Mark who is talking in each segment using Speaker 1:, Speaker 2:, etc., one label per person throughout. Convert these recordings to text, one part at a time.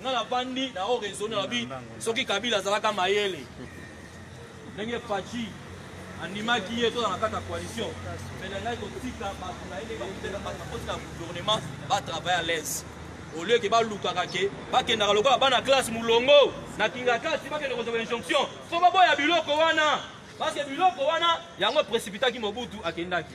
Speaker 1: nga na vandi na o raisonne nalobi soki kabila azalaka mayele ndenge faci andimaki ye tozala na kati ya coalition mais na ngai kotika bato na ye nde bakutela bato bakoti na gouvernement batravaille à l'aise au lieu ke balukaka ke bakendaka lokola bana classe molongo na kingakati bakende kozwa injonction fo baboya biloko wana parce que biloko wana yango précipitaki mobutu akendaki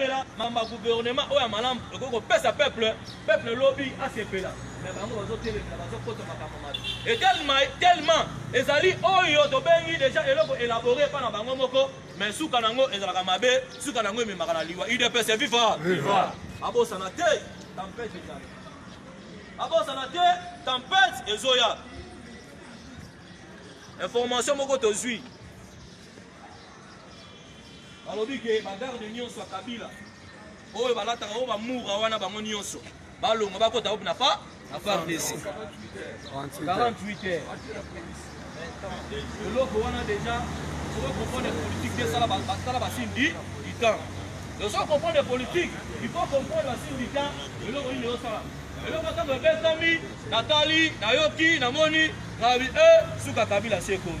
Speaker 1: kotemela mamba gouvernement oyo ya malamu ekoki kopesa peuple peuple lobi asepela me bango bazotelemela bazokota makambo mabe etelema tellement ezali oyo tobengi deja eloko elabore epa na bango moko me suka na yango ezalaka mabe suka na yango ememaka na liwa udps viva babosana te tempete ezali babosana te tempete ezoya information moko tozwi balobi ke bagarde nyonso ya kabila oyo balataka oyo bamura wana bango nyonso balonga bakota oyo na pa na fardc 48 heures eloko wana deja soki comprendre politique te sala basindi du temps donc soki comprendre politique il faut comprendre basindi du temps eloko nini eosala eloko ntango ebetami natali nayoki namoni rabi e eh, suka kabila se ekomi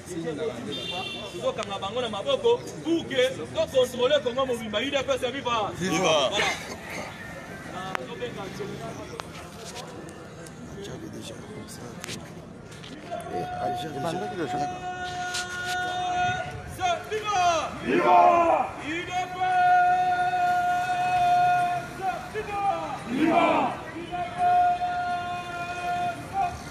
Speaker 1: tozokanga bango na maboko pour que tocontrole kongo mobimba udps ya viva nazobenga Viva! Viva!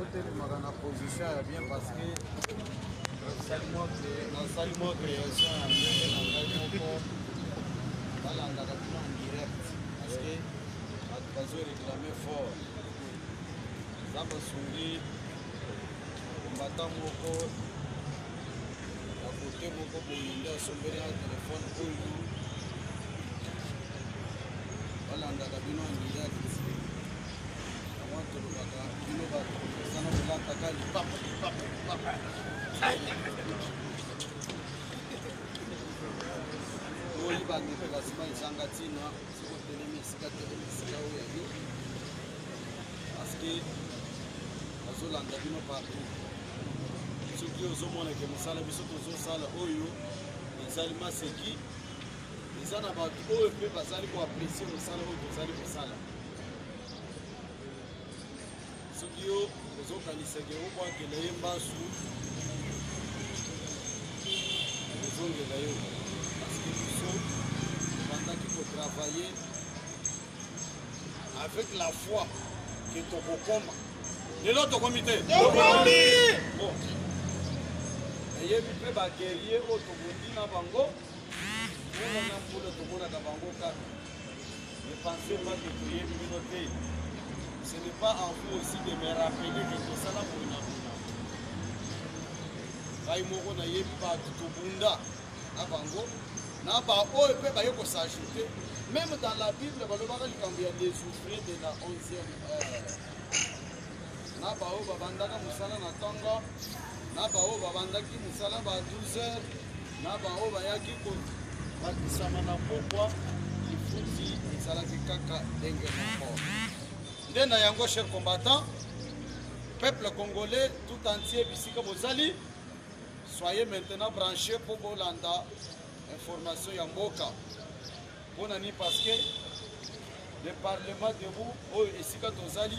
Speaker 2: otelemaka na position ya bien parce que nasali mwa création ya ndenge na ngai moko balandaka bino en direct parce que bato bazo réclame fort eza basungi kombata moko na kote moko boye nde asombeli na telefone oyo balandaka bino andirect yango tolobaka bino bato ezana kolataka lipapa lipapa lipapa oyi bandeko basima ezanga ntina soki otelemi esika telemi esika oyo ya yo parceke bazolanda bino partout soki ozomona ke mosala biso tozosala oyo ezali maseki eza na bato oyo mpe bazali koapresie mosala oyo tozali kosala soki yo ozokanisa ke obwakela ye mbasu ozongela yo parceke biso obandaki kotravaille avec la foi ke tokokoma lelo tokomi te tokomi nayebi mpe bagerie oyo tokondi na bango mona na mbula tomonaka bango kaka Ne pensez pas que toyebi bino te. Ce n'est pas en vous aussi de me rappeler que tosala boye na buna. Ngai moko nayebi bato tobunda na bango na baoyo mpe baye kosajoute meme dans la bible balobaka likambo ya desouvrir de la 11e heure na baoyo babandaka mosala na ntongo na baoyo babandaki mosala ba 12 heures na baoyo bayaki kobakisama na pokwa lifuti ezalaki kaka ndenge moko nde na yango cher combattant peuple congolais tout entier bisika bozali soyez maintenant branché mpo bolanda information ya mboka mpo na nini parceke le parlement debout oyo esika tozali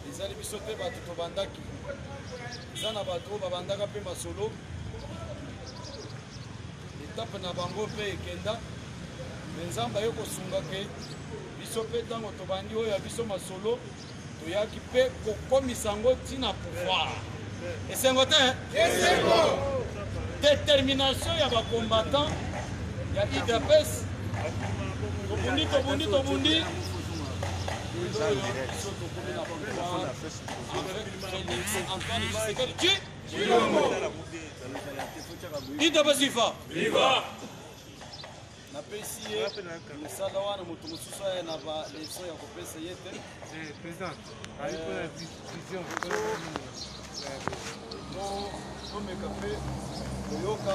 Speaker 2: ezali biso mpe bato tobandaki eza na bato oyo babandaka mpe masolo etape na bango mpe ekenda me nzambe aye kosunga ke biso mpe ntango tobandi oyo ya biso masolo toyaki mpe kokomisa yango ntina pouvoir esengo te esengo determination ya bacombattant ya idps tobundi tobundi tobundi
Speaker 1: idps viva viva
Speaker 2: napesi ye mosala wana moto mosusu aya na baleso ya kopesa ye te komeka mpe koyoka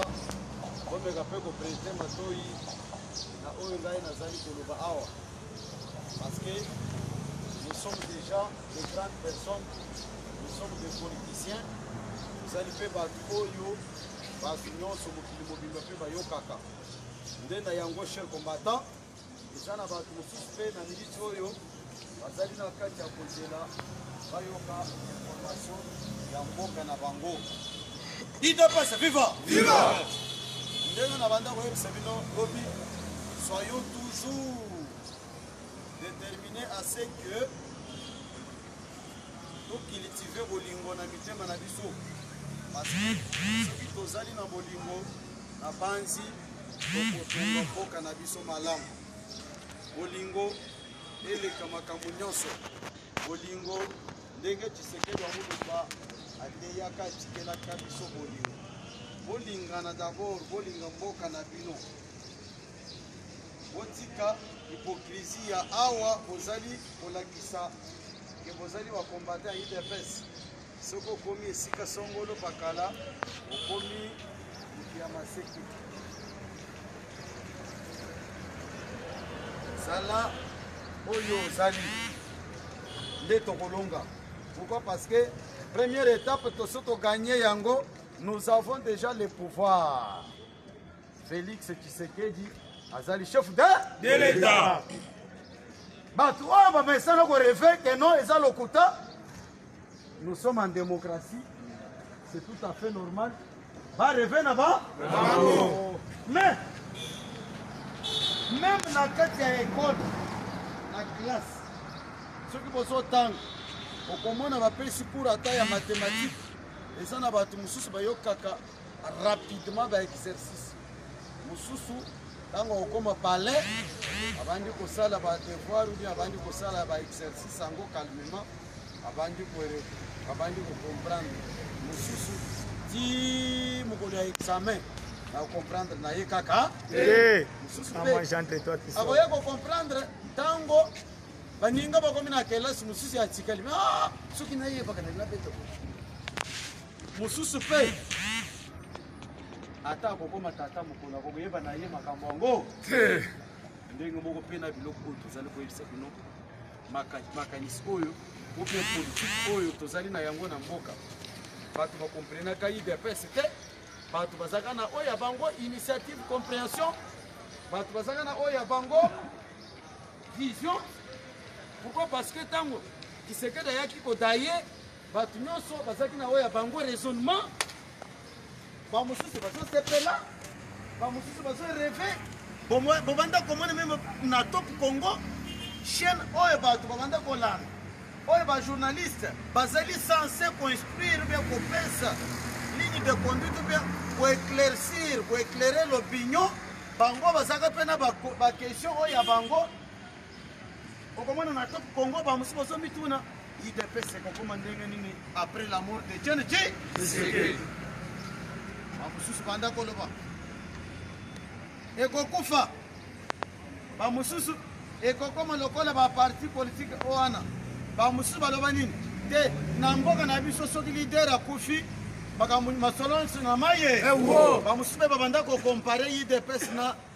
Speaker 2: komeka mpe koprete matoi na oyo ngai nazali koloba awa parce que nous sommes déjà de grandes personnes nous sommes des politiciens tozali mpe bato oyo bato nyonso mokili mobimba mpe bayokaka Nde na yango cher combattant, eza na bato mosusu mpe na miniti oyo bazali na kati ya kozela bayoka information ya mboka na bango. Idps viva! Viva! Ndenge na banda koyebisa bino lobi, soyons toujours déterminés à ce que tocultive bolingo na mitema na biso parce que soki tozali na bolingo Nabanzi tokotonga mboka na biso malamu. Bolingo eleka makambo nyonso. Bolingo ndenge Tshisekedi Amuluba ateyaka atikelaka biso bolingo. Bolingana d'abord, bolinga mboka na bino. Botika hypocrisie ya awa bozali kolakisa ke bozali bakombata ya udps. soki okomi esika songolo pakala okomi moto ya maseke zala oyo ozali nde tokolonga pourquoi parce que première étape toso toganye yango nous avons déjà le pouvoir félix tshisekedi azali chef de de l'état bato oyo bamesana koreve keno eza lokuta Nous sommes en démocratie, c'est tout à fait normal. Ba rêver na ba Bravo. Mais même na kati ya école na classe soki bozotanga okomona bapesi cours ata ya mathématique eza na bato mosusu bayokaka rapidement ba exercice mosusu ntango akokoma palais abandi kosala ba devoir ou bien abandi kosala ba exercice yango calmement abandi kore abandi kocomprendre mosusu ti mokolo ya examen nakocomprendre na ye kaka mosusu akoya kocomprendre ntango baninga bakomi na kelasi mosusu ya tikali ah, soki nayebaka na nabeta mosusu mpe ata akokoma tata mokolo akokoyeba na ye makambo yango te ndenge moko mpe na biloko oyo tozali koyebisa bino makanisi oyo ope politike oyo tozali na yango na mboka bato bakomprenaka idps te bato bazalaka na oyo ya bango initiative comprehension bato bazalaka na oyo ya bango vision pourquoi parce que ntango kisekedi ayaki kodaye Bato nyonso bazalaki na oyo ya bango raisonnement, bamosusu bazosepela, bamosusu bazoreve. Bobanda komona meme na Top Congo chaîne oyo bato babanda kolanda oyo bajournaliste bazali sense koinstruire mpe kopesa ligne de conduite mpe koeclaircir koeclaire l'opinion bango bazalaka mpe na baquestion oyo ya bango okomona na top congo bamosusu bazomituna idps ekokoma ndenge nini après la mort de jene ji bamosusu banda koloba ekokufa bamosusu ekokoma lokola baparti politike o wana bamosusu baloba nini te na mboka na biso soki lider akufi makambo masolo nyonso na maye bamosusu mpe babanda kokompare idps na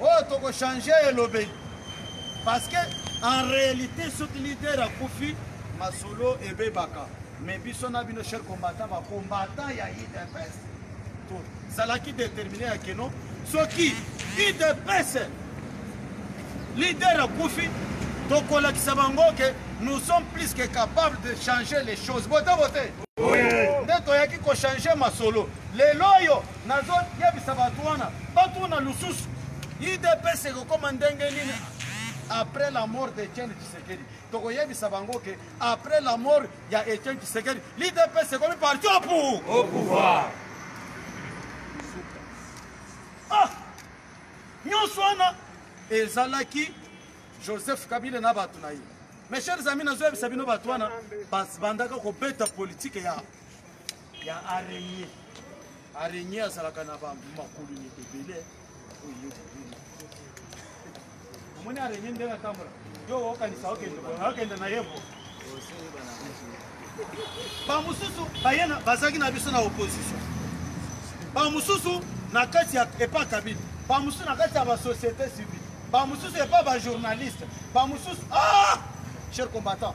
Speaker 2: oyo toko changer elobeli parce que en réalité soki leader akufi masolo ebebaka mais biso na bino cher combattant ba combattant ya idps tozalaki déterminé ya keno soki idps leader akufi tokolakisa bango ke nous sommes plus que capable de changer les choses bote bote nde toyaki kochange masolo lelo oyo Nazo yebisa batu wana batuna lususu udps ekokoma ndenge nini après la mort de Etienne Tshisekedi. Toko yebisa bango que après la mort ya Etienne Tshisekedi, l'UDPS est comme parti au pouvoir. Au pouvoir. Ah! Nyonso wana ezalaki Joseph Kabila na bato na ye. Mes chers amis, nazoyebisa bino bato wana bandaka kobeta politike ya ya araignée araignée azalaka na makolo ebele omoni araignée ndenge atambola yo okanisa okende na ye bamosusu bazalaki na biso na opposition bamosusu na kati ya epa kabine bamosusu na kati ya basociété civile bamosusu epa bajournaliste bamosusu ah! cher combattant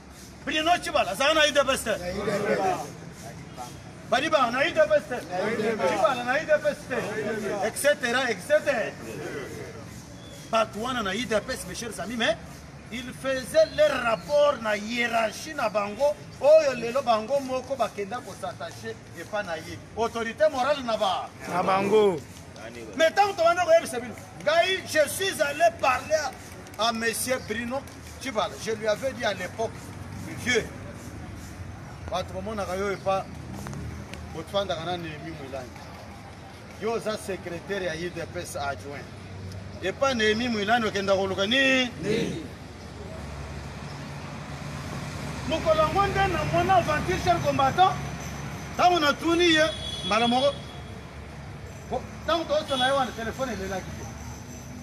Speaker 2: Bruno Chibala azalaka na udps te balibaka na udps te Chibala na udps te etc etc bato wana na udps mes chers amis mais il faisait leur rapport na hiérarchie na bango oyo lelo bango moko bakenda kosatache epa na ye autorité morale na ba na bango mais ntango tobanda koyebisa bino ngai je suis allé parler à monsieur Bruno Chibala. Je lui avais dit à l'époque, vieux, bato bamonaka yo epa botfandaka na Nehemi Mwilangi. Yo oza secrétaire ya UDPS adjoint. Epa Nehemi Mwilangi okenda koluka nini? Nini? mokolo yango nde na mwana aventure cher combattant ntango natuni ye mbala moko ntango toosona ye wana telefone elelaki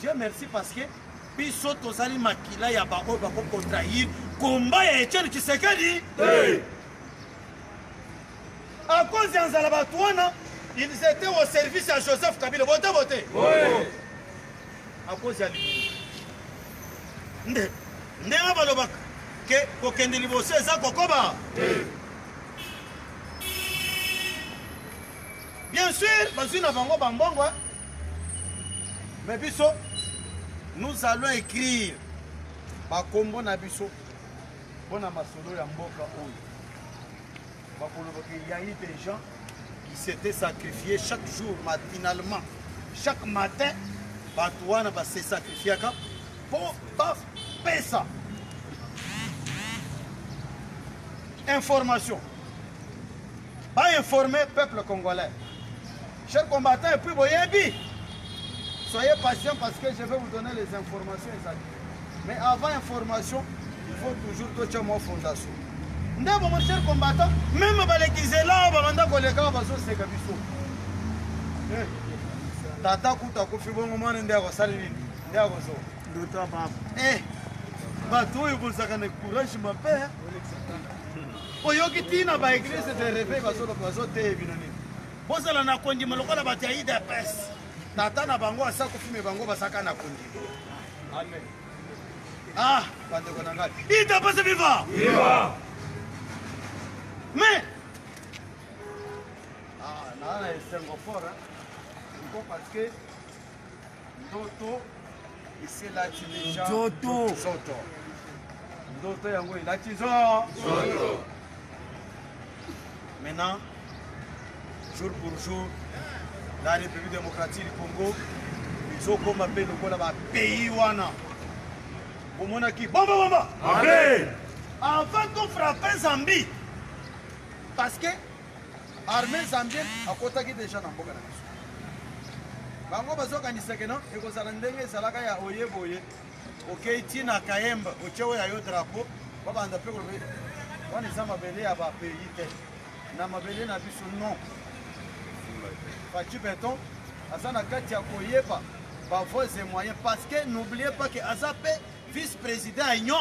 Speaker 2: Dieu merci parce que biso tozali makila ya baoyo bakokontrahir komba ya etienne kisekedi hey. à cause ya nzala bato wana ils étaient au service ya joseph kabila bote bote oui. à cause ya libumu nde ndenge balobaka ke kokende liboso eza kokoba hey. bien sûr bazwi na bango bambongo Mais biso nous allons écrire bakombo na biso mpo na masolo ya mboka oyo bakoloba ke ya eu des gens qui s'étaient sacrifiés chaque jour matinalement chaque matin bato wana base sacrifiaka mpo bapesa information bainforme peuple congolais Cher combattant, et puis Boyebi, soyez patient parce que je vais vous donner les informations exactes. Mais avant information, il faut toujours toucher mon fondation. ndeko mon cher combattant meme balekizela awa babanda koleka awa bazoseka biso eh, tata kuta kufi bongo mwana nde akosali nini nde akozo ndoto ya papa
Speaker 3: eh,
Speaker 2: bato oyo bozalaka na courage mabe eh. oyoki ntina baeglise de reveil bazoteye bino nini Bozala na kondima lokola bato ya idps. Tata na bango asa kufi me bango basaka na kondima. Amen. Ah, bandeko na ngai. Idps viva! Viva! Mais ah, na na esengo fort hein. Pourquoi parce que ndoto eselati deja nzoto nzoto ndoto yango elati nzoto maintenant jour pour jour la république démocratique du congo ezokoma mpe lokola bapays wana omonaki bombobomba avant tofrape zambie parce que Armee zambien akotaki deja na mboka na biso. Bango bazokanisa ke non ekozala ndenge ezalaka ya oye boye okei ti na Kayembe otie oyo ya yo drapeau babanda mpe kolobe wana eza mabele ya ba pays te na mabele na biso non. Fatshi Beton aza na kati ya koyeba ba voies et moyens parce que n'oubliez pas que aza mpe vice-président ya Union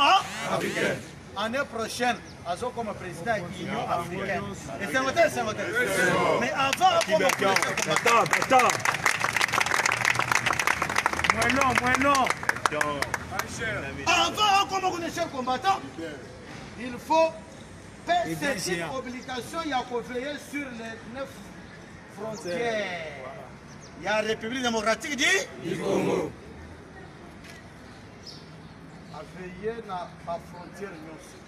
Speaker 2: africaine année prochaine azokoma président ya union africaine esengo te esengo te mais avant
Speaker 3: akoma mweno mweno
Speaker 2: avant akoma kuna chef combattant il faut pcc obligation ya koveille sur les neuf frontières ya république démocratique du congo aveille na bafrontière nyonso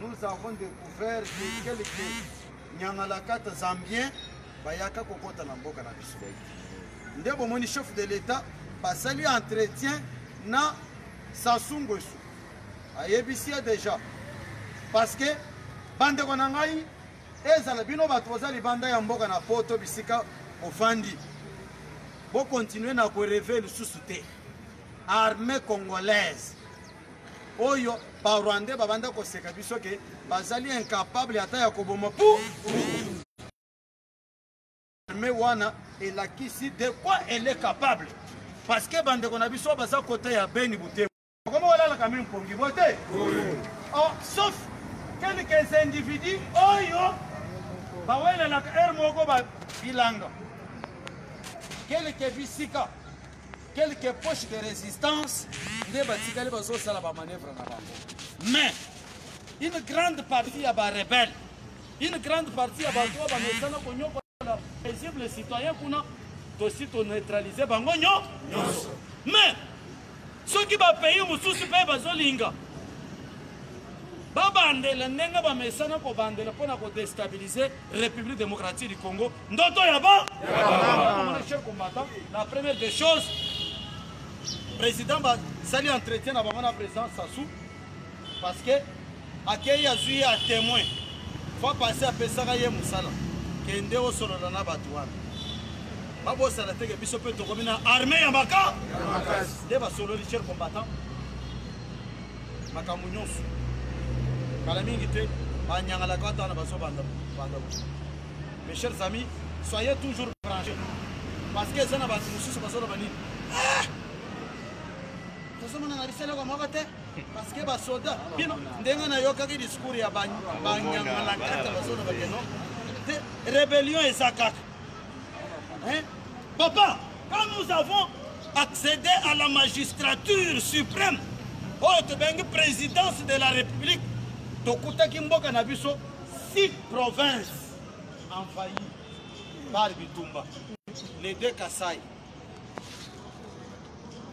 Speaker 2: nous avons découvert que quelques nyangalakata zambien bayaka kokota na mboka na biso nde bomoni chef de l'état basali entretien na sasu ngwesu ayebisi ye déjà parce que bandeko na ngai ezala bino bato boza libanda ya mboka na poto bisika bofandi bokontinue na koreve lisusu te armée congolaise oyo ba rwandais babanda koseka biso ke bazali incapable ata ya koboma pu arme wana elakisi de quoi elle est capable parce que bandeko na biso baza kote ya beni butembo okomi kolalaka mi mpongi bo te oh, sauf quelques individus oyo bawelelaka heure moko bilanga quelques bisika Quelques poches de resistance nde batikali bazosala ba manœuvre na bango. Mais une grande partie ya ba rebelle, une grande partie ya bato oyo bamesana konyokola paisible citoyen kuna tosi toneutralize bango nyo nyonso. Mais soki bapays mosusu mpe bazolinga babandela ndenge bamesana kobandela mpo na kodestabilize République démocratique du Congo, Ndoto Yaba, Yaba. chers combattants, la première des choses, président Sali entretien à la présidence Sassou, parce que accueil a suivi à témoin, faut passer à Pessara et Moussala, qui est au solo dans la batouane. babosana teke biso mpe tokomi na arme ya maka nde basololi cher combattant makambo nyonso kala mingi te banyangalaka ata na bazobanda banda mes chers amis soyez toujours branché parce que eza na bato mosusu bazoloba nini ah! tozomona na biseleko moko te parce que basoda bino ndenge nayokaki discours ya banyangalakata bazoloba keno te rébellion eza kaka Hein? Papa, quand nous avons accédé à la magistrature suprême, oyo tobengi présidence de la République, tokutaki mboka na biso six provinces envahies par bitumba, les deux Kasaï.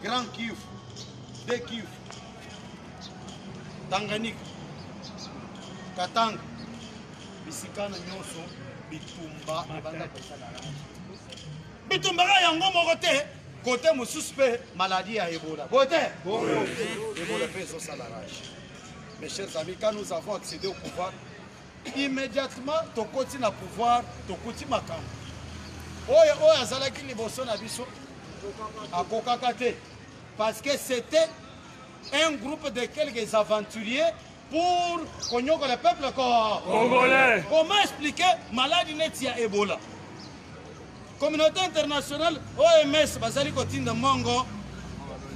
Speaker 2: Grand Kivu, De Kivu, Tanganyika, Katanga, bisikana nyonso bitumba ebanda kosala bitumba kaka yango moko te kote mosusu mpe maladi ya ebola boye te ebola mpe ezosala rage mes chers amis quand nous avons accédé au pouvoir Immediatement tokoti na pouvoir, tokuti makambo oyo oyo azalaki liboso na biso akokaka te parce que c'était un groupe de quelques aventuriers pour konyokola peuple congolais. Comment expliquer maladi neti ya Ebola? Communauté internationale OMS bazali kotinda mbongo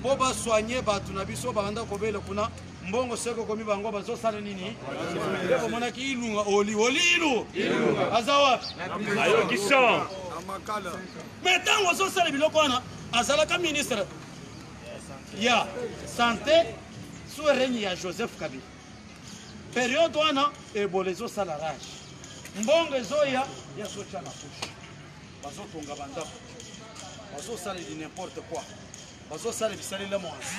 Speaker 2: mpo basoigne bato na biso babanda kobela kuna mbongo soki okomi bango bazosala nini nde bomonaki ilunga oli oli ilu aza wapi ayoki
Speaker 3: son me
Speaker 2: ntango ozosala biloko wana azalaka ministre ya sante sous règne ya joseph kabila periode wana ebola ezosala rage mbongo ezoya ya sotia na pushe bazotonga bandako bazosala di n'importe quoi bazosala bisalela mwanzi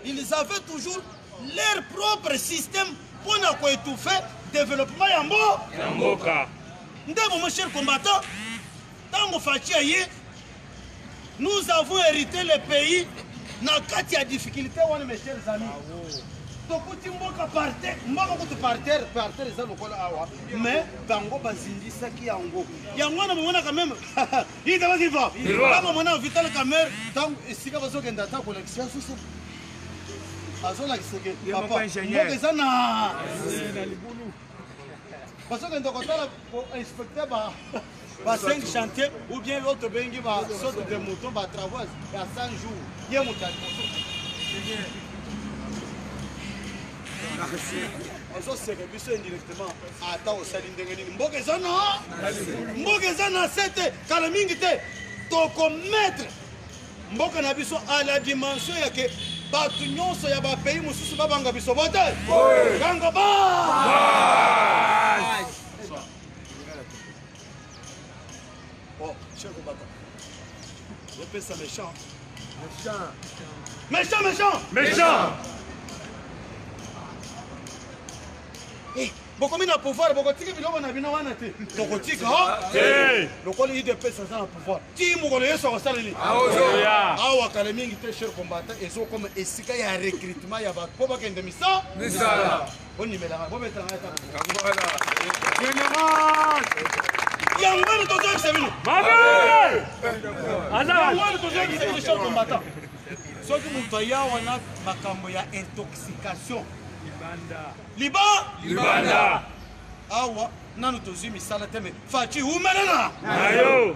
Speaker 2: ils avaient toujours leur propre système mpo na koetouffe développement ya mboka nde bomo cher combattant ntango faci aye Nous avons hérité le pays na kati ya difficulté wana mes chers amis. tokuti mboka parter mboka kutu parter parter eza lokola awa mais bango bazindisaki yango yango wana bomonaka meme idabasiva bakomona vital camere ntango esika bazokenda ata kolakisa ya susu azolakiseke papa mboka eza na bazokenda kotala inspecte ba ba 5 chantier ou bien yo tobengi ba saute de mouton ba travaux ya 100 jours ye moto ozoseka biso indirectement ata osali ndenge nini mboka eza na mboka eza na se te kala mingi te tokometre mboka na biso a la dimension ya ke bato nyonso ya bapays mosusu babanga biso bote kango ba Oh, chef au bâton. Je fais ça méchant. Méchant. Méchant, méchant. Méchant. Eh, bokomi na pouvoir bokotiki biloko na bino wana te tokotika lokola idps aza na pouvoir ti mokolo yesu akosala nini awa kala mingi te cher combata ezokoma esika ya recrutement ya bato mpo bakende misala yango wana tozoyebisa bino yango wana tozoyebisa bino chef combattant soki moto aya wana makambo ya intoxication liba libanda awa nanu tozwi misala te me faci umelana nayo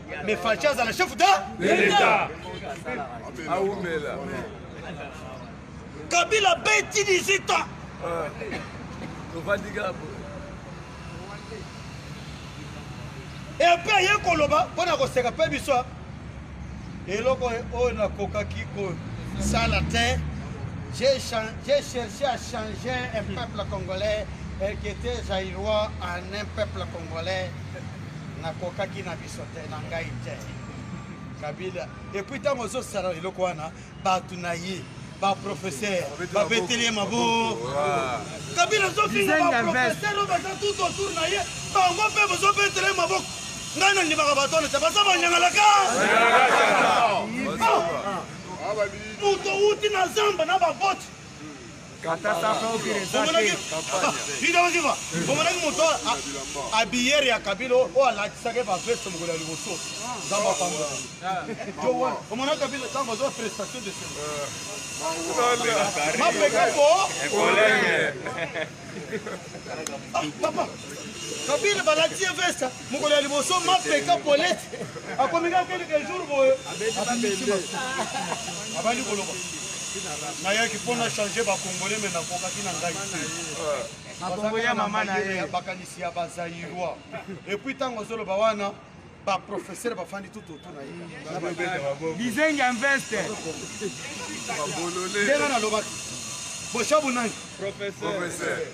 Speaker 2: Mais Fatshi azala chef de l'État. Aumela. Kabila beti 18 ans. Euh, Et après aye koloba mpo na koseka mpe biso eloko oyo nakokaki kosala te j'ai cherché à changer un peuple congolais et qui était zaïrois en un peuple congolais nakokaki na biso te na ngai te kabila epuis ntango ozosala eloko wana bato na ye baprofesseur babeteli ye maboko kabila ozofinga baprofesseur oyo baza tout autour na ye bango mpe bozobetele maboko ngai nandimaka bato wana te baza banyangalaka moto outi na zamba na baboti omonaki moto abiyere ya kabila oyo alatisaka ye baveste mokolo ya liboso nzambe apambola omona kabila ntango azwa prestation de mapeka po papa kabila balati ye veste mokolo ya liboso mapeka polete akomeka keleke jour boye abandi koloba nayaki mpo na change bacongolais me nakokaki na ngai te
Speaker 3: bakanisi ya bazairoi
Speaker 2: epuis ntango ozoloba wana baprofesere bafandi tututu na ye bizengi ya veste ndenge nalobaki boshabu nani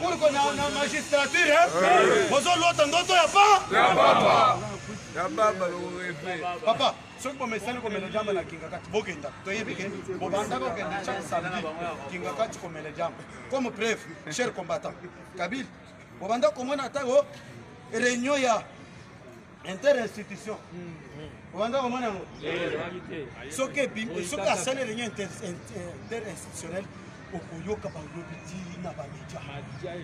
Speaker 4: Pourquoi na, na magistrature hein? Eh. Bozo lota ndoto ya pa? Ya papa. Ya papa le rêve. Papa, soki bomesani komela jamba na kingakati bokenda toyebi ke bobandaka okende chaque samedi kingakati komela jamba comme preuve cher combattant kabili bobanda komona ntango réunion ya interinstitution obanda komona yango soki asali réunion interinstitutionnelle okoyoka balobi ti na bamedia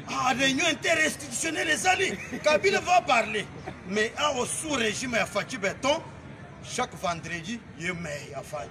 Speaker 4: ah, réunion interinstitutionnelle ezali kabila va parler mais awa sous régime ya faci beton chaque vendredi ye mei afani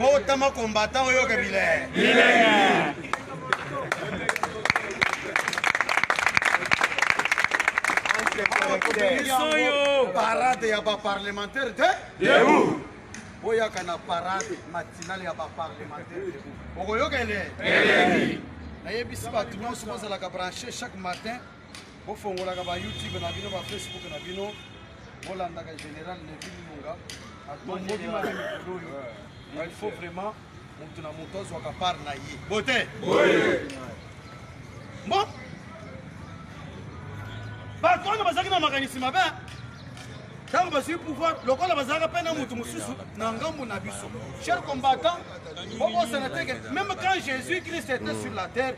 Speaker 3: botama
Speaker 4: combattant oyoka bilenge parade ya baparlementaire te debout
Speaker 3: boyaka
Speaker 4: na parade matinale ya baparlementaire debout okoyoka ele nayebisi bato nyonso bozalaka branche chaque matin bofongolaka ba youtube na bino ba facebook na bino bolandaka général levi lunga atomboli mala mikolo oyo il faut vraiment moto na moto azwaka part na ye bote bo bato wana bazalaki na makanisi mabe ntango bazwi pouvoir lokola bazalaka mpe na moto mosusu na ngambo na biso cher combattant bokosana teke meme quand jésus christ était sur la terre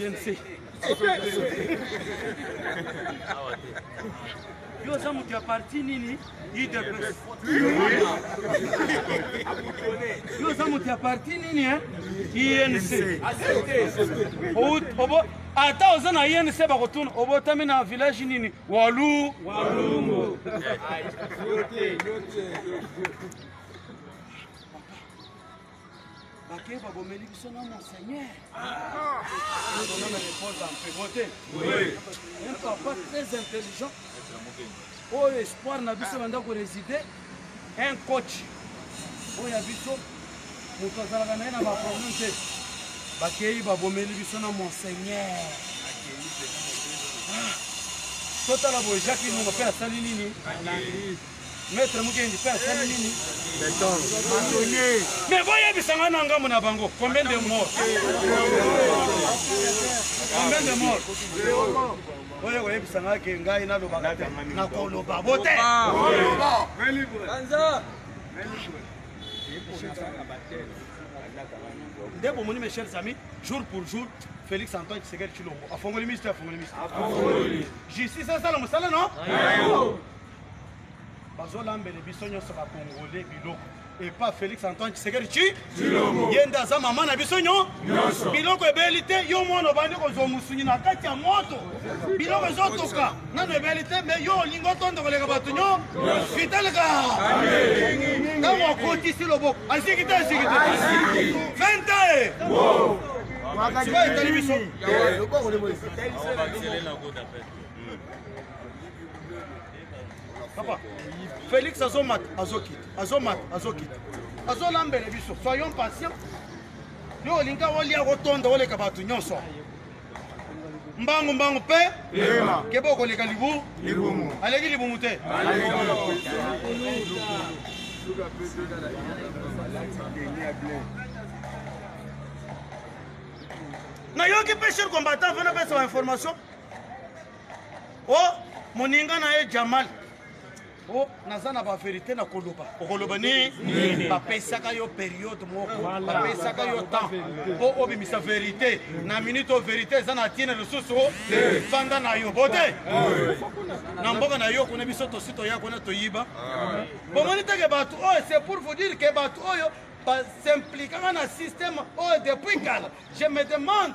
Speaker 4: INC. Yo oza moto ya parti nini? UDPS. Yo oza moto ya parti nini hein? INC. Ou- obo- Ata oza na INC bakotuna obotami na village nini? Walu. Walungu. Bakeba bomeli biso na monseigneur. Ah. Un papa très intelligent. Oh espoir na biso banda ko résider un coach oyo ya biso moto azalaka na ye na baproblème te bakei babomeli biso na monseigneur ah. totala boye jacques ilunga mpe asali nini Maître Mukendi pe asali nini? Mais boyebisa ngai na ngambo na bango combien de morts? Combien de morts? oyo koyebisa ngai ke ngai nalobaka te nakoloba bote nde bomoni mes chers amis jour pour jour félix antoine tshisekedi tshilombo afongoli misto afongoli misto justice asala mosala no bazolambele biso nyonso bakongole biloko epa félix antoine tshisekedi ci ye nde aza mama na biso nyo biloko ebeli te yo mwana obandi kozwa mosungi na kati ya moto biloko ezotoka nano ebeli te me yo olingi otondo koleka bato nyo vitaleka ntango akotisi loboko asiki te asiki te vente sikoyo etali biso papa félix azomata azokita azomata azokita azolambele biso soyons patient yo olinga olia otonda oleka bato nyonso mbangu mbangu mpe keba okoleka libu aleki libumu te nayoki mpe cher combattant mpe napesa bainformation o oh, moninga na ye jamal o oh, naza na baverité na koloba okoloba nini bapesaka yo periode moko bapesaka yo temps mpo obimisa verité na minute oyo verité eza na ntina lisusu fanda na yo bote na mboka na yo kuna biso tosi toya kuna toyiba ah. bomoni teke bato oyo oh, c'est pour vous dire ke bato oyo oh, basimpliquaka na système oyo oh, depuis kala je me demande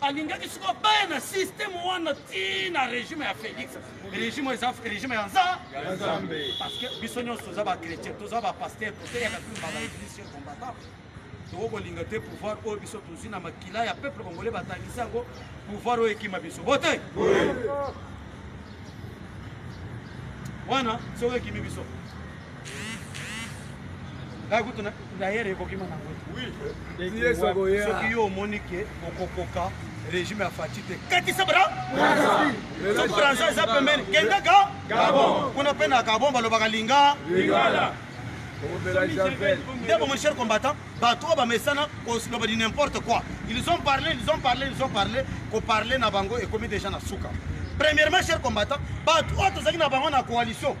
Speaker 4: alingaki siko baya na systeme wana ti na regime ya félix regime eza regime ya nza parce que biso nyonso toza bachrétien toza bapaster toseyaka mpe mbala eglise combattant tokoki kolinga te pouvoir oyo biso tozwi na makila ya peuple congolais batangisi yango pouvoir oyo ekima biso bote wana soki ekimi biso ngai kutu dayere ekokima na ngosoki yo omoni ke okokoka régime ya fati te katisa brasoki bransa eza pembeni kenda ga kuna mpe na gabon balobaka linga nde bomoni cher combattant bato oyo bamesana koloba di n'importe quoi ils ont parlé ils ont parlé ils ont parlé koparle na bango ekomi déjà na suka premièrement cher combattant bato oyo tozalaki na bango na coalition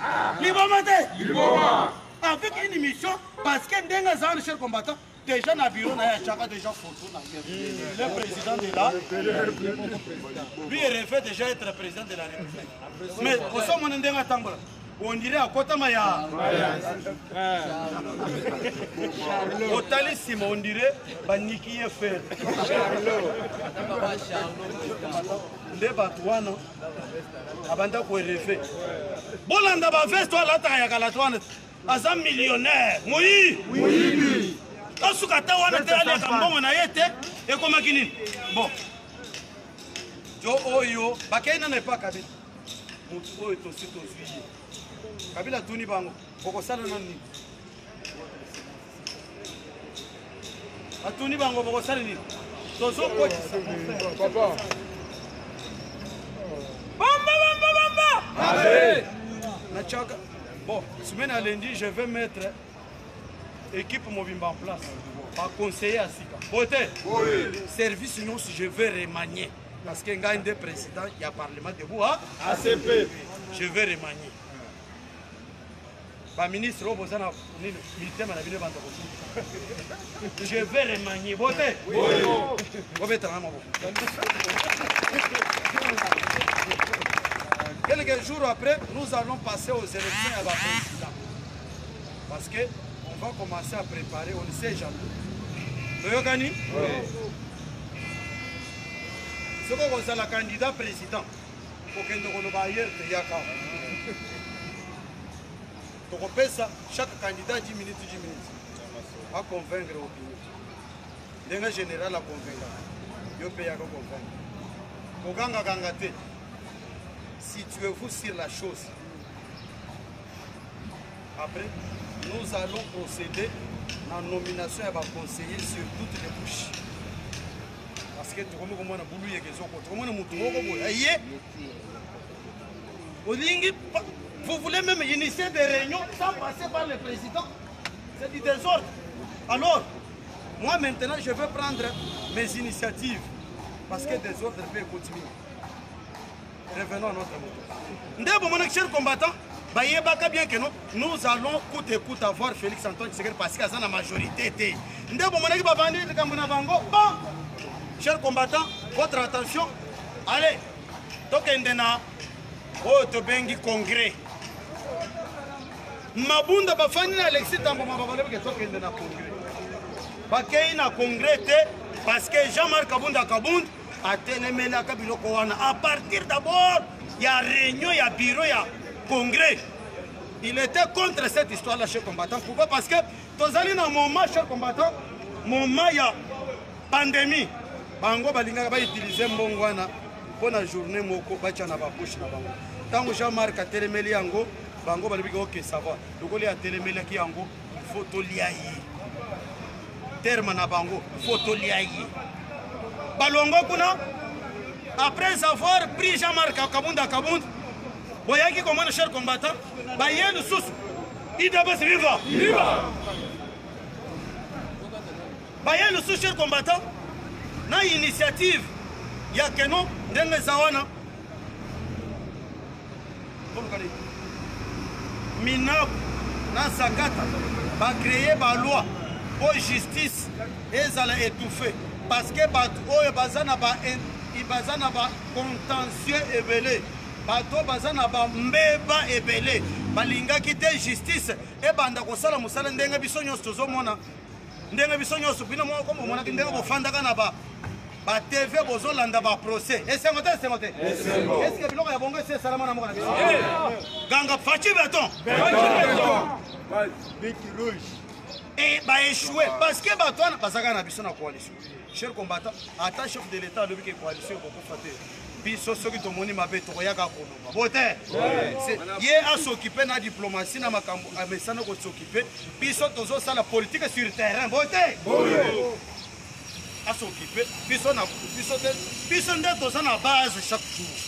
Speaker 4: Ah. Liboma te. Liboma. Avec une émission parce que ndenge azali le cher combattant déjà na bureau na ye achaka déjà photo na ye mm. le président de la lui revait déjà être président de la république mais osomona ndenge atambola on dirait akotama ya otali nsima on dirait baniki ye fere nde bato wana abanda koerefe bolanda baveste oyo alataka ya kala twana aza millionnaire moyibi tosuka ata wana te aliaka mbongo na ye te ekomaki nini bon jo oyo bakei nana epa kabila motu oyo tosi tozwi ye kabila atuni bango okosala na nini batuni bango bokosala nini tozokotisa natiaka bon semaine ya lundi je vais mettre équipe mobimba en place baconseiller ya sika boye te service nyonso je vais remanier parce que ngai nde président ya parlement debout acp je vais remanier ba ministre oyo boza na nini mitema na bino ebanda kosuka je vais remanie bote bobetana maboko quelques jours après nous allons passer aux élections ya baprésident parce que on va commencer à préparer on ne sait jamais toyokani soki okozala candidat président kokende koloba ayer teyaka tokopesa chaque candidat 10 minutes 10 minutes aconvaincre opinion ndenge général aconvaincaka yo mpe yaka convaincre kokangakanga te situez-vous sur la chose après nous allons procéder na nomination ya baconseiller sur toutes les couches parce que tokomi komona bulu yeke ezoko tokomona motu moko boye aye olingi vous voulez même initier des réunions sans passer par le président c'est du désordre alors moi maintenant je veux prendre mes initiatives parce que désordre peut continuer revenons à notre moto nde bomonaki cher combattant bayebaka bien que non nous allons coûte et coûte avoir félix antoine tshisekedi parce que aza na majorité te nde bomonaki bavandi likambo na bango bon cher combattant votre attention allez tokende na oyo tobengi congrès mabunda bafandi na alexi tamboma babalebeke tokende na congrès bakei na congrès te parce que jean marc kabunda kabund atelemelaka biloko wana à partir d'abord ya réunion ya bureau ya congrès il était contre cette histoire là chez combattant pourquoi parce que tozali na moment chez combattant moment ya pandemie bango balingaka bautilize mbongo wana mpo na journée moko batya na bapoche na bango ntango jean marc atelemeli yango bango balobiki oke sava lokoli atelemelaki yango fo tolia ye terme na bango fo tolia ye balongo kuna après avoir pris jean marc kabunda kabunda boyaki komona cher combattant baye lisusu idps viva baye lusu cher combattant na initiative ya keno ndenge eza wana minaku na zakata bacreye baloi mpo justice ezala étouffe parce que bato oyo baza na ba baza na ba contentieux ebele bato baza na bambeba ebele balingaki te justice ebanda kosala mosala ndenge biso nyonso tozomona ndenge biso nyonso bino moko bomonaki ndenge bofandaka na ba ba tv bozolanda ba procès esengo te esengo te eske biloko ya bongo esi esalama na mboka na biso ganga faci beton e baechoue parce que bato wana bazalaka na biso na coalition cher combattant ata chef de l'état alobi ke coalition ekokufa te biso soki tomoni mabe tokoyaka koloba bo te ye asokipe na diplomatie na makambo amesana kosokipe biso tozosala politique sur terrain bo te asokipe biso na biso te biso nde toza na base chaque jour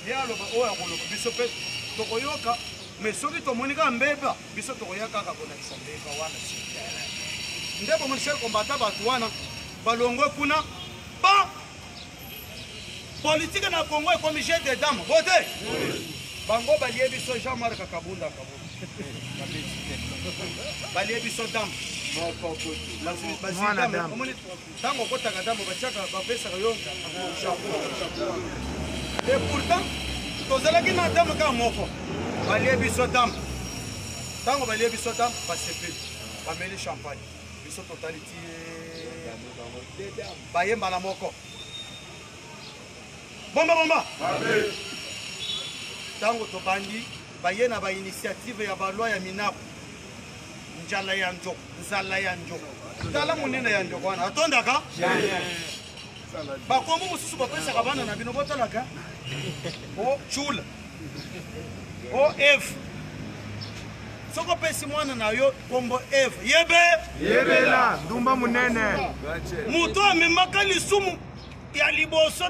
Speaker 4: ye aloba oyo akoloba biso mpe tokoyoka mais soki tomoni kaka mbeba biso tokoya kaka kolakisa mbeba wana sur terrain nde bomonisa kombata bato wana balongwe kuna ba politike na congo ekomi jeu de dame bote bango balie biso jean marc kabunda kabunda balie biso dame Tango okotaka ndambo batiaka bapesaka yo Et pourtant tozalaki na ndambo kaka moko balie biso ndambo ntango balie biso ndambo basepeli bameli champagne biso totali ti baye mbala moko bomba bomba ntango tobandi Baye na ba initiative ya ba loi ya minaku njala ya njo nzala ya njo tala monene ya njo wana atondaka bakombo mosusu bapesaka bana na bino botalaka o chula o eve soki opesi mwana na yo kombo eve yebe yebela ndumba monene moto amemaka lisumu ya liboso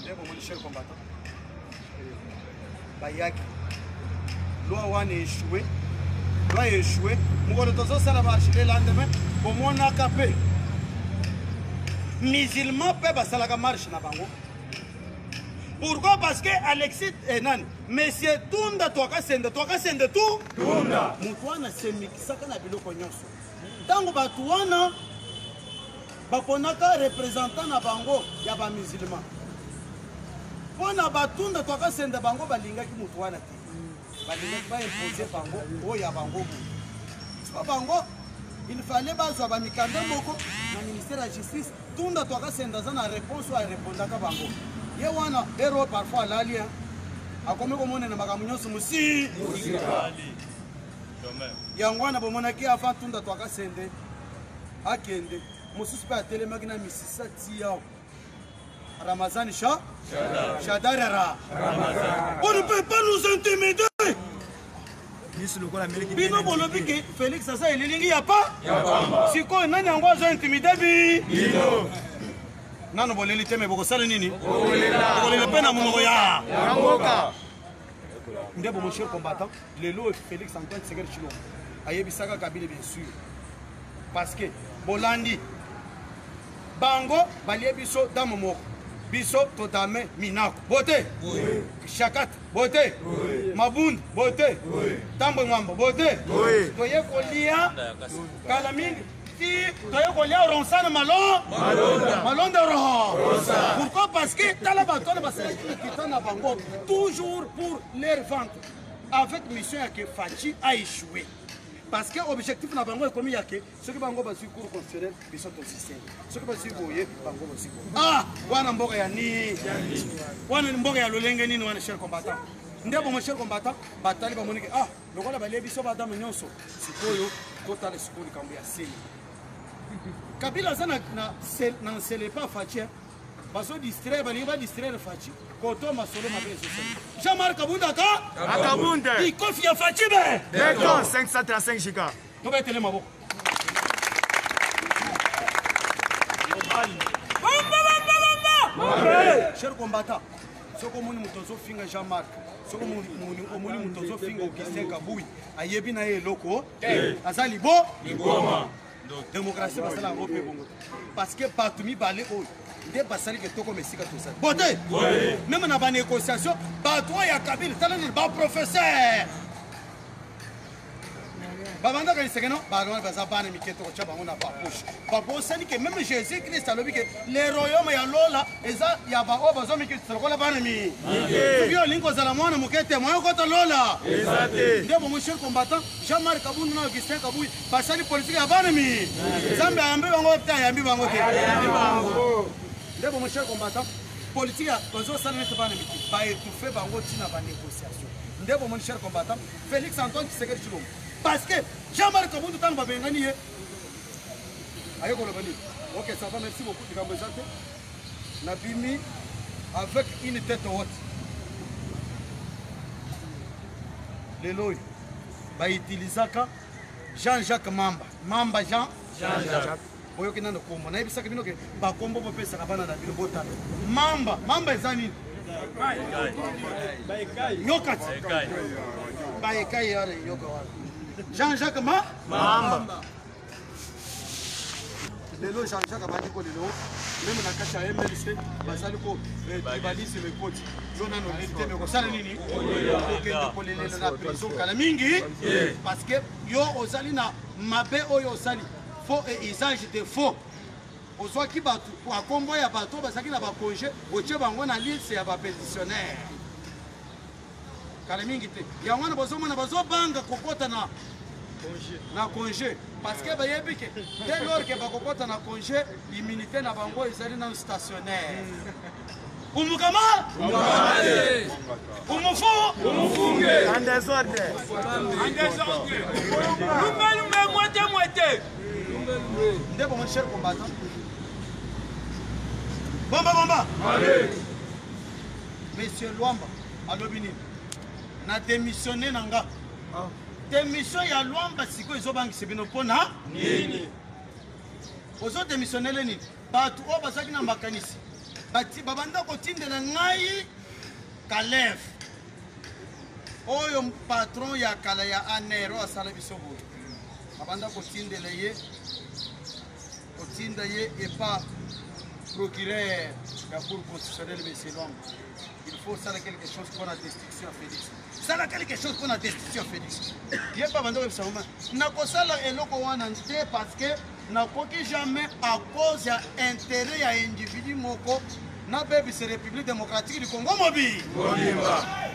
Speaker 4: ndeko moni cher combattant bayaki loi wana echoue loi echoue mokolo tozosala marche le lendemain bomonaka mpe musulman mpe basalaka marche na bango pourquoi parce que alexis eh, nani monsieur tunda twakasende twakasende tu tunda moto wana semikisaka na biloko nyonso ntango bato wana baponaka representant na bango ya ba musulman mpo na batunda twakasenda bango balingaki moto wana te balingaki baimpose bango oyo ya bango moto mpo bango il fallait bazwa bamikanda moko na ministère ya justice tunda twakasenda aza na réponse oyo arepondaka bango ye wana ero parfois alali akomi komonena makambo nyonso mosi yango wana bomonaki avant tunda twakasende akende mosusu mpe atelemaki na misisa tiao ramazani sha shadarara on ne peut pas nous intimider bino bolobi ke félix aza elilingi ya pa sikoyo nani yango azo intimide bi nano boleli te me bokosala nini bokolela mpe na monoko ya nde bomochie combattant lelo Felix Antoine Tshisekedi Tshilombo ayebisaka Kabila bien sûr parce que bolandi bango balie biso dame moko biso totame minako bote oui. shakat bote oui. mabund bote oui. tambwe mwamba bote oui. toye kolia kala mingi ti toye kolia oronsana malo malonda roho pourquoi parce que tala bato wana basalaki mikita na bango toujours pour leur vente avec mission ya ke faci a échoué parce que objectif na bango ekomi ya ke soki bango bazwi cour constitutionnel biso tosiseli soki bazwi boye bango bazwi boye ah wana mboka ya nini wana mboka ya lolenge nini wana cher combattant nde bongo cher combattant batali bamoni ke ah lokola balie biso badame nyonso sikoyo totala sikoyo likambo ya seli kabila aza na nsele pa faci bazo distraire balingi ba distraire faci koto masolo mabe ezosala jean marc kabunda ka akabunde
Speaker 3: ikofi ya faci
Speaker 4: be beton 535
Speaker 3: giga tobetele
Speaker 4: maboko cher combattant soki omoni moto azofinga jean marc soki omoni moto azofinga augustin kabui ayebi na ye eloko aza libo Démocratie basala yango mpe bongo parce que bato mibale oyo nde basali ke tokoma esika tozali bote meme na banégociation bato oyo ya kabila tala nini baprofesseur babandaka liseke no baloni baza bana mike tokotya bango na bapoche babosani ke meme jésus christ alobi ke le royaume ya lola eza ya baoyo bazwa mikitisa lokola bana mi soki olingi kozala mwana moke te moyo kota lola nde bongo chef combattant jean marc kabundu na augustin kabui basali politiki ya bana mi nzambe ayambi bango te ayambi bango te ndeko mon cher combattant politiki bazosala nete bana miki baetouffe bango ntina banégociation ndeko mon cher combattant félix antoine tshisekedi tshilombo parce que jean marc kabundu ntango babengani ye aye koloba nini ok ça va merci beaucoup likambo eza te nabimi avec une tête haute lelo oyo bautilisaka jean jacques mamba mamba jean jean jacques boyoki nano kombo nayebisaki bino ke bakombo bopesaka bana na bino botala mamba mamba eza nini yokati baekai yare yoka wana jean jacques ma mamba lelo jean jacques abandi ko lelo meme na kati ya mlc bazali ko eh, tribalisme ekoti yo nano nini te me kosala nini okende kolelela na prison kala mingi parce que yo ozali na mabe oyo osali faux et usage de faux ozwaki bato kwa nkombo ya bato bazalaki na bakonge otie bango na liste ya bapetitionnaire kala mingi te yango wana bozomona bazobanga kokota na na congé parce que bayebi ke dès lors ke bakokota na congé immunité na bango ezali nanu stationnaire umukama umufu umufunge en désordre
Speaker 3: en
Speaker 4: désordre lumbe lumbe mwete
Speaker 1: mwete
Speaker 4: ndeko mon cher combattant bomba bomba monsieur luamba alobi nini na demissione na nga ah. demission ya lwamba sikoyo ezobangisa bino mpo na nini ozo demissionnele nini bato oyo bazalaki na makanisi babanda kotindela ngai kalef oyo patron ya kala ya aner oyo asala biso boye babanda kotindela ye kotinda ye epa procureur ya cour constitutionnel monsieur lwamba il faut osala quelque chose mpo na destruction ya félix sala quelque chose mpo na destruction ya félix ye mpe abanda koyebisa ngoma nakosala eloko wana te parce que nakoki jamais à cause ya intérêt ya individu moko nabebisa république démocratique du congo mobili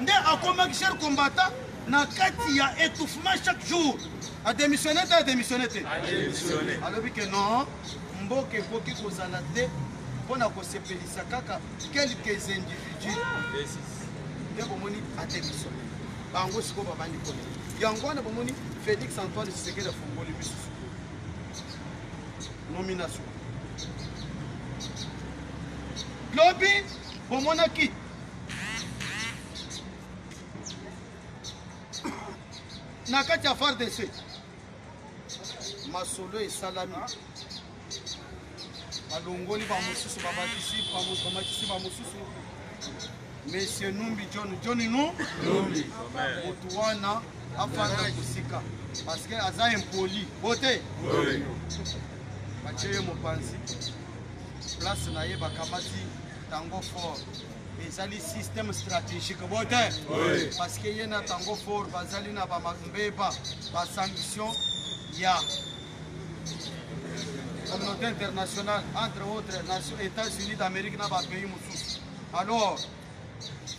Speaker 4: nde akomaki cher combattant na kati ya étouffement chaque jour adémissionne te adémissionne te alobi ke non mboka ekoki kozala te mpo na kosepelisa kaka quelques individus nde bomoni ateliso bango sikoyo babandi kona yango wana bomoni félix antoine tshisekedi afungoli misu sikoyo nomination lobi bomonaki na kati ya fardc masolo esalami balongoli bamosusu babakisi bamakisi bamosusu monsieur numbi john john nu numbi motu wana afanda kosika parce que aza impoli bote batie ye mopanzi place na ye bakamati tango fort ezali système stratégique bo te parce que ye na tango fort bazali na bambeba basanction ya communauté internationale entre autres nation états-unis d'amérique na bapays mosusu alors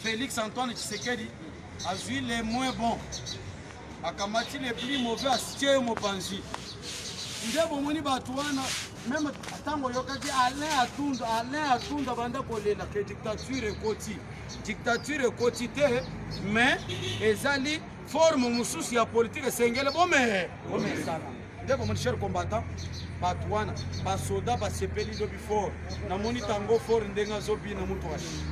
Speaker 4: félix antoine tshisekedi azwi le moins bon akamati le plus mauvais asitie yo mopanzi nde bomoni bato wana meme ntango oyokaki alain atunda alain atunda banda kolela ke dictature ekoti dictature ekoti te mais ezali forme mosusu ya politike esengele bome bomesana nde komoni cher combattant bato wana basoda basepeli lobi fort namoni tango fort ndenge azobi na moto washi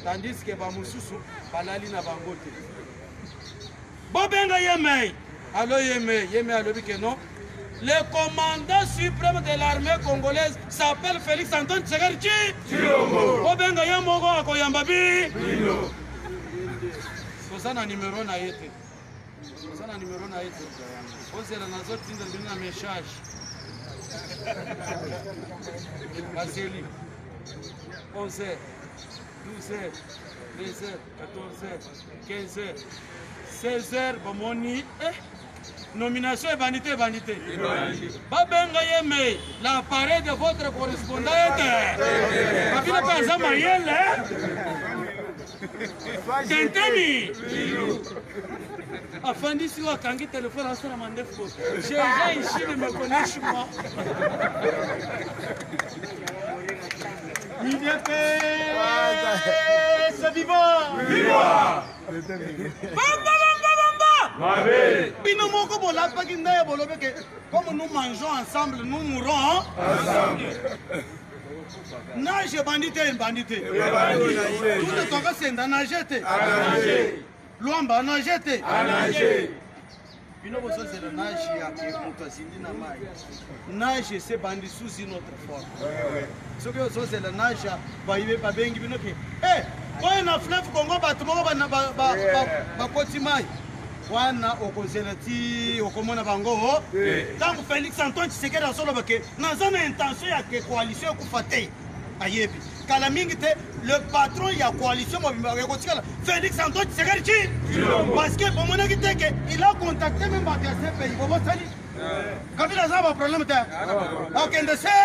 Speaker 4: tandis ke bamosusu balali na bango te bobenga yemei alo yemei yemei alobi ke non Le commandant supreme de l'armée congolaise s'appelle Felix Antoine Tshisekedi Tshilombo. Bobenga ye moko akoyamba bi. Toza na numero na ye te. Toza na numero na ye te. Ozela nazotinda bino na message. Baseli. 11 heures, 12 heures, 13 heures. 16h bamoni eh, nomination ebandi te ebandi te babenga ye me l'appareil de votre correspondant ete kabila mpe aza mayele tenteni afandisi oyo akangi telefone asala mandefu jeza ishili mekoneshi mwa bino moko bolapaki ndaya bolobi ke comme nous mangeons ensemble nous mourons ensemble nage ebandi te ebandi te tuna tokasenda nage te luamba nage te bino bozozela nage ya moto azindi na mai nage se bandi sous une autre forme soki ozozela nage babengi bino ke e oyo na fleuve congo bato moko bakoti mai wana okozela ti okomona bango ntango felix antoine tshisekedi azoloba ke naza na intention ya ke coalition ekufa te ayebi kala mingi te le patron ya coalition mobimba ekotikala félix antoine tshisekedi ci parce que bomonaki te ke il a contacté meme bato ya cpi bobosani kabila aza baproblème te akende se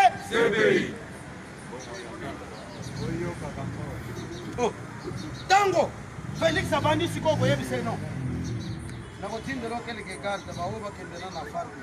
Speaker 4: ntango oh. félix abandi sikoyo koyebisa ye non nakotindela okeleke garde baoyo bakendela na farde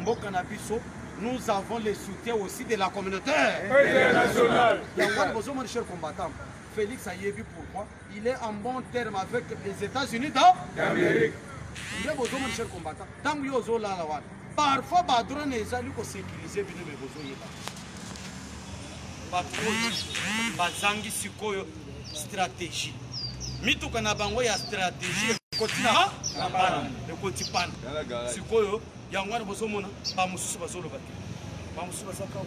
Speaker 2: mboka na biso nous avons le soutien aussi de la communauté internationale yango wana bozomoni cher combattant félix ayebi pourquoi il est en bon terme avec les états-unis d'amérique nde bozomoni cher combattant ntango yo ozolala wana parfois badrone ezali kosécurise bino me bozoyeba bakuti bazangi sikoyo strategie mituka na bango ya strategie ekoti na ekoti pana sikoyo yango wana bozomona bamosusu bazoloba te bamosusu bazaka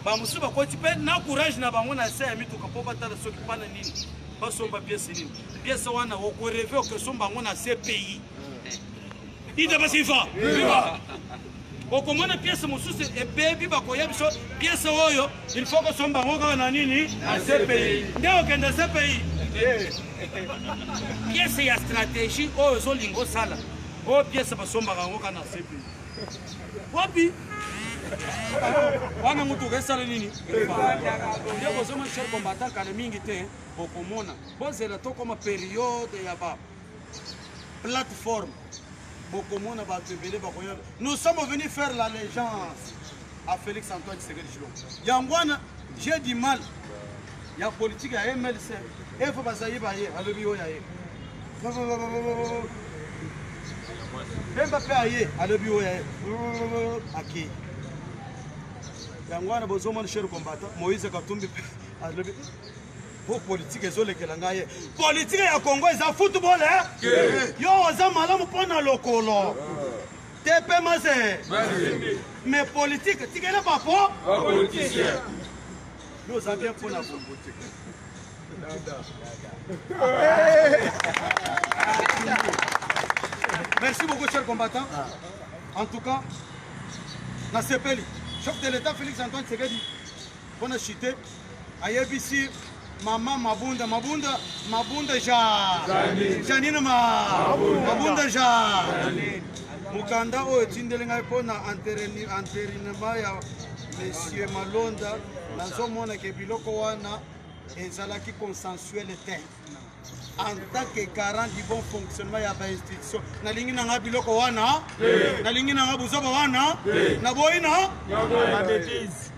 Speaker 2: bamosusu bakoti mpe na courage na bango na se ya mituka mpo batala soki pana nini basomba piese nini piese wana okoreve okesomba yango na cpi idabasifa okomona piese mosusu ebebi bakoya biso piese oyo il faut kosomba yango kaka na nini na cpi nde okende cpi piese ya stratégie oyo ozolinga osala oyo piese basombaka yango kaka na cpi wapi wana motuka esala nini nde bozoma cher kombatakana mingi te bokomona bozela tokoma periode ya ba plateforme bokomona bato ebele bakoya nous sommes venus faire la légence à félix antoine tshisekedi chilombo yango wana j'ai du mal ya politique ya mlc efo bazali baye alobi oyo aye bemba mpe aye alobi oyo aye akei yango wana bozomona cher combattant moïse katumbi mpe alobi po politike ezolekela ngai ye politike ya congo eza football e eh? yo oza malamu mpo na lokolo te mpe maze mais politike tikele bapo yo oza bien mpo na bongo te merci beaucoup cher combattant en tout cas nasepeli chef de l'état félix antoine tshisekedi Mpo na chute ayebisi mama mabunda mabunda mabunda ja janine ma mabunda ja mokanda oyo etindeli ngai mpo na enterinema ya monsieur malonda nazomona ke biloko wana ezalaki consensuel te en tant que garant du bon fonctionnement ya bainstitution nalingi na ngai biloko wana nalingi na ngai buzoba wana naboyi na babetise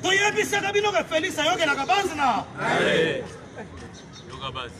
Speaker 2: toyebisaka bino ke felix ayokelaka base na yoka base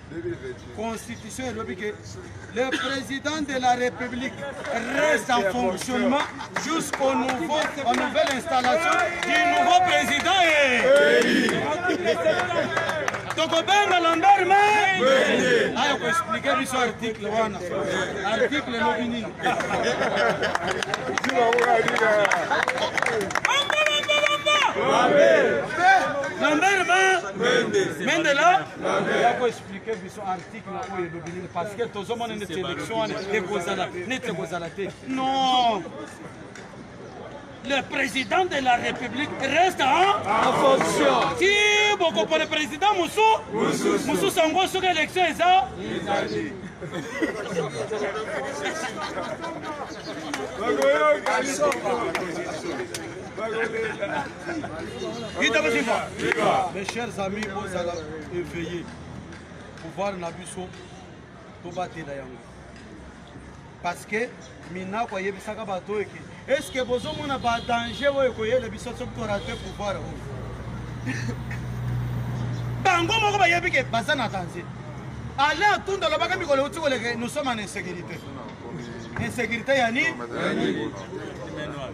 Speaker 2: Constitution elobi que le président de la République reste en fonctionnement jusqu'au nouveau, en nouvelle installation du nouveau président. tokobenga lambert mende ayo koexplike biso article wana article elobi nini lambert mende la ya ko explique biso article oyo elobi nini parce que tozomona neti élection wana ekozala neti ekozala te non le président de la république reste en fonction ti bokopona président mosusu mosusu yango soki élection eza Mes chers amis, bozala éveillés. Pouvoir na biso tobatela yango. Parce que Minako ayebisaka bato oyo eke est-ce que bozomona ba danger oyo ekoyela biso soki torate pouvoir oyo bango moko bayebi ke baza na danger ale atunda alobaka mikolo euti koleke nous sommes en insécurité insécurité ya nini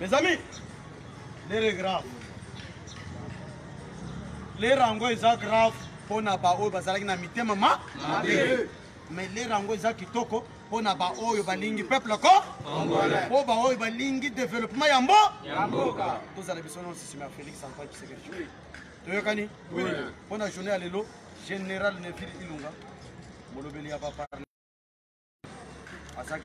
Speaker 4: Mes amis, l'heure est grave. L'heure yango eza grave mpo na baoyo bazalaki na mitema ma mabe. Mais l'heure yango eza kitoko mpo na baoyo balingi peuple ko mpo baoyo balingi développement ya mbo tozala biso nyonso nsima ya Félix Antoine Tshisekedi. Toyokani? Mpo na journée ya lelo, Général Neville Ilunga, molobeli ya ba azalaki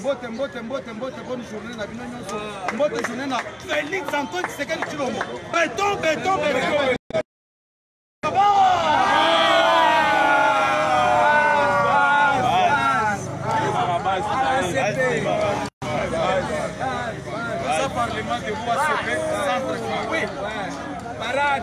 Speaker 4: mbote mbote mbote mbote bonne journée na bino nyonso mbote journée na felix antoine tshisekedi tshilombo beton beton beton parlement de Bois-Sopé, centre. Oui, parade.